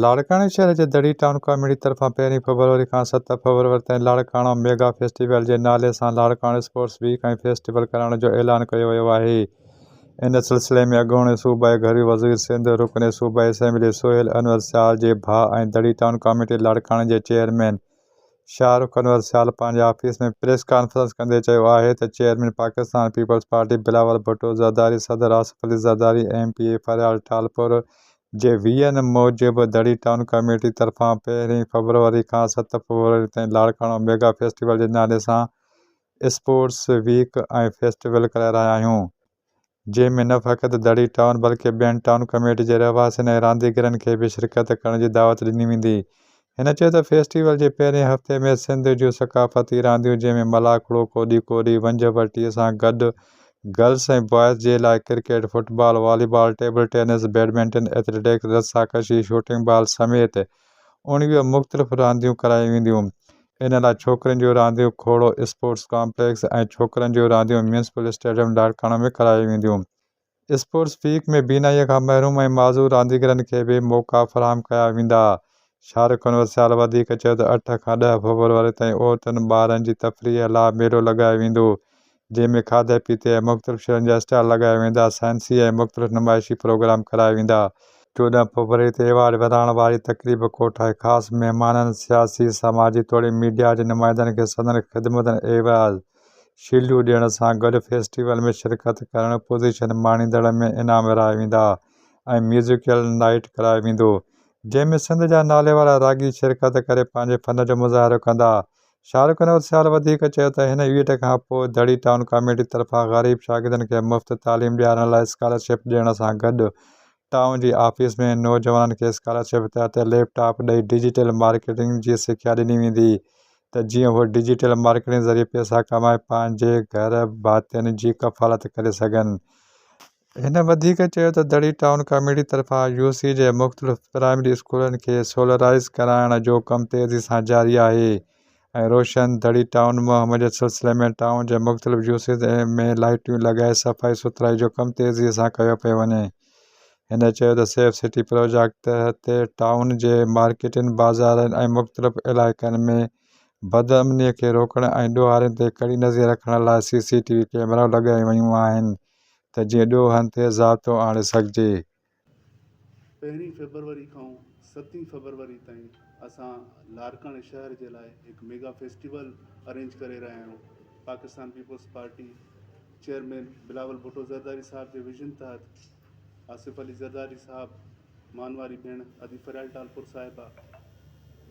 لاڙڪاڻي شهر جي دڙي ٽائون ڪاميٽي طرفان پهرين فبروري کان ست فبروري تائين لاڙڪاڻو ميگا فيسٽيول جي نالي سان لاڙڪاڻو اسپورٽس ويڪ ۽ فيسٽيول ڪرائڻ جو اعلان ڪيو ويو آهي ان سلسلي ۾ اڳوڻي صوبائي گهرو وزير سنڌ رڪن صوبائي اسيمبلي سهيل انور سيال جي ڀاء ۽ دڙي ٽائون ڪاميٽي لاڙڪاڻي جي چيئرمين شاهه رخ انور سيال پنهنجي آفيس ۾ پريس ڪانفرنس ڪندي چيو آهي ته چيئرمين پاڪستان پيپلز پارٽي بلاول ڀٽو زرداري صدر Asif Ali Zardari M P A Faryal Talpur جي وي اين موجب دڙي ٽائون ڪميٽي طرفان پهرين فيبروري کان ست فيبروري تائين لاڙڪاڻو ميگا فيسٽيول جي نالي سان اسپورٽس ويڪ ۽ فيسٽيول ڪرائي رهيا آهيون جنهن ۾ نه فقط دڙي ٽائون بلڪه ٻين ٽائون ڪميٽي جي رهواسين ۽ رانديگرن کي به شرڪت ڪرڻ جي دعوت ڏني ويندي هن چيو ته فيسٽيول جي پهرين هفتي ۾ سنڌ جون ثقافتي رانديون جنهن ۾ ملاکڙو، ڪوڏي ڪوڏي، ونجهه ورٽي سان گڏ گرلس ۽ بوائز جي لاء cricket, football, volleyball, table tennis, badminton, athletics, رسا ڪشي، شوٽنگ بال سميت اڻويهه مختلف رانديون ڪرايون وينديون. ان لاء ڇوڪرين جون رانديون کوڙو اسپورٽس ڪامپليڪس ۽ ڇوڪرن جون رانديون ميونسپل اسٽيڊيم لاڙڪاڻو ۾ ڪرايون وينديون. اسپورٽس ويڪ ۾ بينائيء کان محروم ۽ معذور رانديگرن کي به موقعا فراهم ڪيا ويندا. شارق ڪنورسيال وڌيڪ چيو ته اٺ کان ڏهه فبروري تائين عورتن ٻارن جي تفريح لاء ميلو لڳايو ويندو، جنهن ۾ کاڌي پيتي ۽ مختلف شين جا اسٽال لڳايا ويندا، سائنسي ۽ مختلف نمائشي پروگرام ڪرايا ويندا. چوڏهن فبروري تي ايوارڊ ورهائڻ واري تقريب ڪوٺائي خاص مهمانن، سياسي، سماجي توڙي ميڊيا جي نمائندن کي سندن خدمتن ايوز. شيلڊون ڏيڻ سان گڏ فيسٽيول ۾ شرڪت ڪرڻ پوزيشن ماڻيندڙن ۾ انعام ورهايا ويندا ۽ ميوزيڪل نائيٽ ڪرايو ويندو جنهن ۾ سنڌ جا ناليوارا راڳي شرڪت ڪري پنهنجي فن جو مظاهرو ڪندا شارق نوتسيال وڌيڪ چيو ته هن ايونٽ کان پوء دڙي ٽائون ڪاميٽي طرفان غريب شاگردن کي مفت تعليم ڏيارڻ لاء اسڪالرشپ ڏيڻ سان گڏ ٽائون جي آفيس ۾ نوجوانن کي اسڪالرشپ تحت ليپ ٽاپ ڏئي ڊجيٽل مارڪيٽنگ جي سکيا ڏني ويندي ته جيئن اهي ڊجيٽل مارڪيٽنگ ذريعي پئسا ڪمائي پنهنجي گهر ڀاتين جي ڪفالت ڪري سگهن. هن وڌيڪ چيو ته دڙي ٽائون ڪميٽي طرفان يو سي جي مختلف پرائمري اسڪولن کي سولرائيز ڪرائڻ جو ڪم تيزي سان جاري آهي. ۽ روشن دڙي ٽائون ۾ مهم جي سلسلي ۾ ٽائون جي مختلف جوسيز ۾ لائيٽيون لڳائي صفائي سٿرائي جو ڪم تيزي سان ڪيو پيو وڃي. هن چيو ته سيف سٽي پروجيڪٽ تحت ٽائون جي مارڪيٽن، بازارن ۽ مختلف علائقن ۾ بدامني کي روڪڻ ۽ ڏوهارين تي ڪڙي نظر رکڻ لاء سي سي ٽي وي ڪيمرائون لڳايون ويون آهن ته جيئن ڏوهن تي ضابطو آڻي سگهجي. پهرين فيبروري کان ستين فيبروري تائين اسان لاڙڪاڻي شهر جي لاء هڪ ميگا فيسٽيول ارينج ڪري رهيا آهيون پاڪستان پيپلز پارٽي چيئرمين بلاول ڀٽو زرداري صاحب جي ويزن تحت آصف علي زرداري صاحب مان واري ڀيڻ ادي فريال ٽالپور صاحبه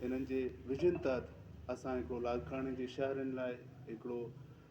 انهن جي ويزن تحت اسان هڪڙو لاڙڪاڻي جي شهرين لاء هڪڙو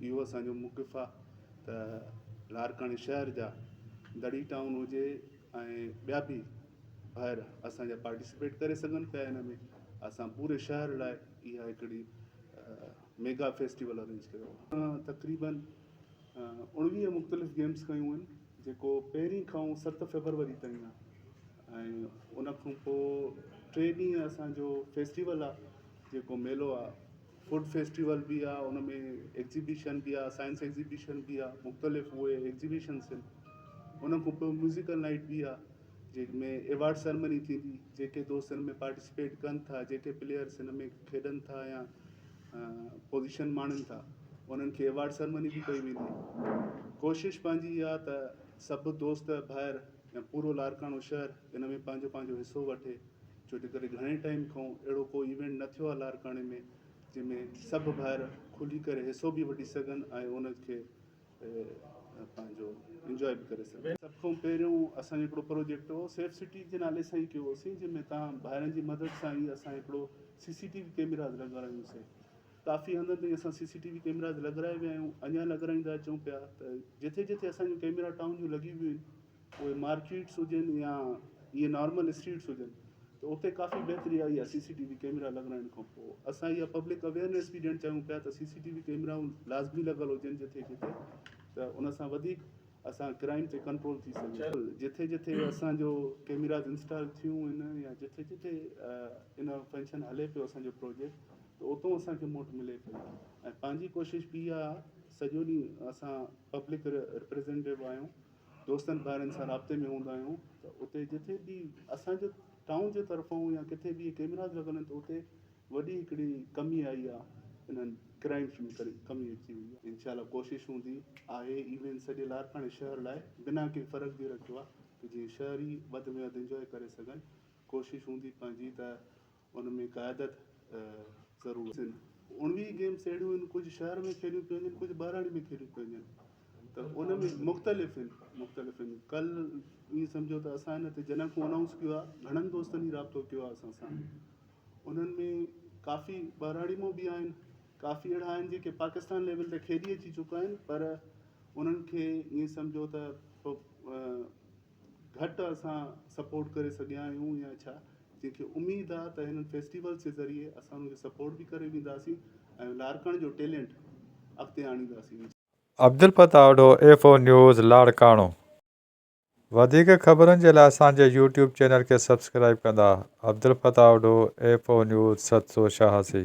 اهو اسان جو موقف آ ته لاڙڪاڻي شهر جا دڙي ٽائون هجي ۽ ٻيا به ڀائر اسان جا پارٽيسپيٽ ڪري سگهن پيا هن ۾ اسان پوري شهر لاء اها هڪڙي ميگا فيسٽيول ارينج ڪيو آ تقريبن اڻويهه مختلف گيمز ڪيون آهن جيڪو پهرين کان ست فيبروري تائين آ ۽ ان کان پوء ٽي ڏينهن اسان جو فيسٽيول آ جيڪو ميلو آ فوڊ فيسٽيول به آ ان ۾ ايگزيبيشن به آ سائنس ايگزيبيشن به آ مختلف اهي ايگزيبيشنس آهن ان کان پوء ميوزيڪل نائيٽ به آ جنهن ۾ ايوارڊ سرمني ٿيندي جيڪي دوست ان ۾ پارٽيسپيٽ ڪن ٿا جيڪي پليئرس ان ۾ کيڏن ٿا يا پوزيشن ماڻين ٿا انهن کي ايوارڊ سرمني به ڪئي ويندي ڪوشش پنهنجي اها ته سڀ دوست ڀائر يا پورو لاڙڪاڻو شهر ان ۾ پنهنجو پنهنجو حصو وٺي ڇو جي ڪري گهڻي ٽائيم کان اهڙو ڪو ايونٽ نه ٿيو آهي لاڙڪاڻي ۾ جنهن ۾ سڀ ڀائر کلي ڪري حصو به وٺي سگهن ۽ ان کي پنهنجو انجوائي به ڪري سگهن سڀ کان پهريون اسان جو هڪڙو پروجيڪٽ هو سيف سٽي جي نالي سان ئي ڪيو هوسين جنهن ۾ تان ڀائرن جي مدد سان ئي اسان هڪڙو سي سي ٽي وي ڪيمراز لڳارايون سين ڪافي هنڌن تائين اسان سي سي ٽي وي ڪيمراز لڳرائي ويا آهيون اڃا لڳرائيندا اچون پيا ته جٿي جٿي اسان جون ڪيمرا ٽائون جون لڳي ويون آهن اهي مارڪيٽس هجن يا اهي نارمل اسٽريٽس هجن ته اتي ڪافي بهتري آئي آهي سي سي ٽي وي ڪئميرا لڳرائڻ کان پوء اسان اها پبلڪ اويئرنيس به ڏيڻ چاهيون پيا ته سي سي ٽي وي ڪئميرائون لازمي لڳل هجن جتي جتي ته ان سان وڌيڪ اسان ڪرائم تي ڪنٽرول ٿي سگهي جتي جتي اسانجو ڪئميراز انسٽال ٿيون ان يا جتي جتي ان فنڪشن هلي پيو اسانجو پروجيڪٽ ته اتو اسانکي موٽ ملي پيو ۽ پنهنجي ڪوشش به اها سڄو ڏينهن اسان پبلڪ رپريزنٽيو آهيون دوستن ڀائرن سان رابطي ۾ هوندا آهيون ته اتي جتي به اسان جو ٽائون جي طرفون يا ڪٿي به ڪيميراز لڳل آهن ته اتي وڏي هڪڙي ڪمي آئي آهي انهن ڪرائمس ۾ ڪري ڪمي اچي وئي آهي انشاء الله ڪوشش هوندي آهي ايون سڄي لاڙڪاڻي شهر لاء بنا ڪنهن فرق جي رکيو آهي ته جيئن شهري وڌ ۾ وڌ انجوائي ڪري سگهن ڪوشش هوندي پنهنجي ته ان ۾ قيادت ضرور آهن. اڻويهه گيمس اهڙيون آهن ڪجهه شهر ۾ کيڏيون پيون وڃن ڪجهه ٻهراڙي ۾ کيڏيون پيون وڃن ته ان ۾ مختلف آهن مختلف آهن ڪل ائين سمجهو ته اسان هن تي جڏهن کان انائونس ڪيو آهي گهڻن دوستن ئي رابطو ڪيو آهي اسان سان انهن ۾ ڪافي ٻهراڙي مون به آهن ڪافي اهڙا آهن جيڪي پاڪستان ليول تي کيڏي اچي چڪا آهن پر انهن کي ائين سمجهو ته گهٽ اسان سپورٽ ڪري سگهيا آهيون يا ڇا جنهن کي اميد آ ته هنن فيسٽيولز جي ذريعي اسان انهن کي سپورٽ به ڪري وينداسين ۽ لاڙڪاڻي جو ٽيلينٽ اڳتي آڻينداسين. Abdul Fattah Odho F O news Larkana وڌيڪ خبرن جي لاء اسان جي يوٽيوب چينل کي سبسڪرائيب ڪندا Abdul Fattah Odho F O news ست سو ڇهاسي.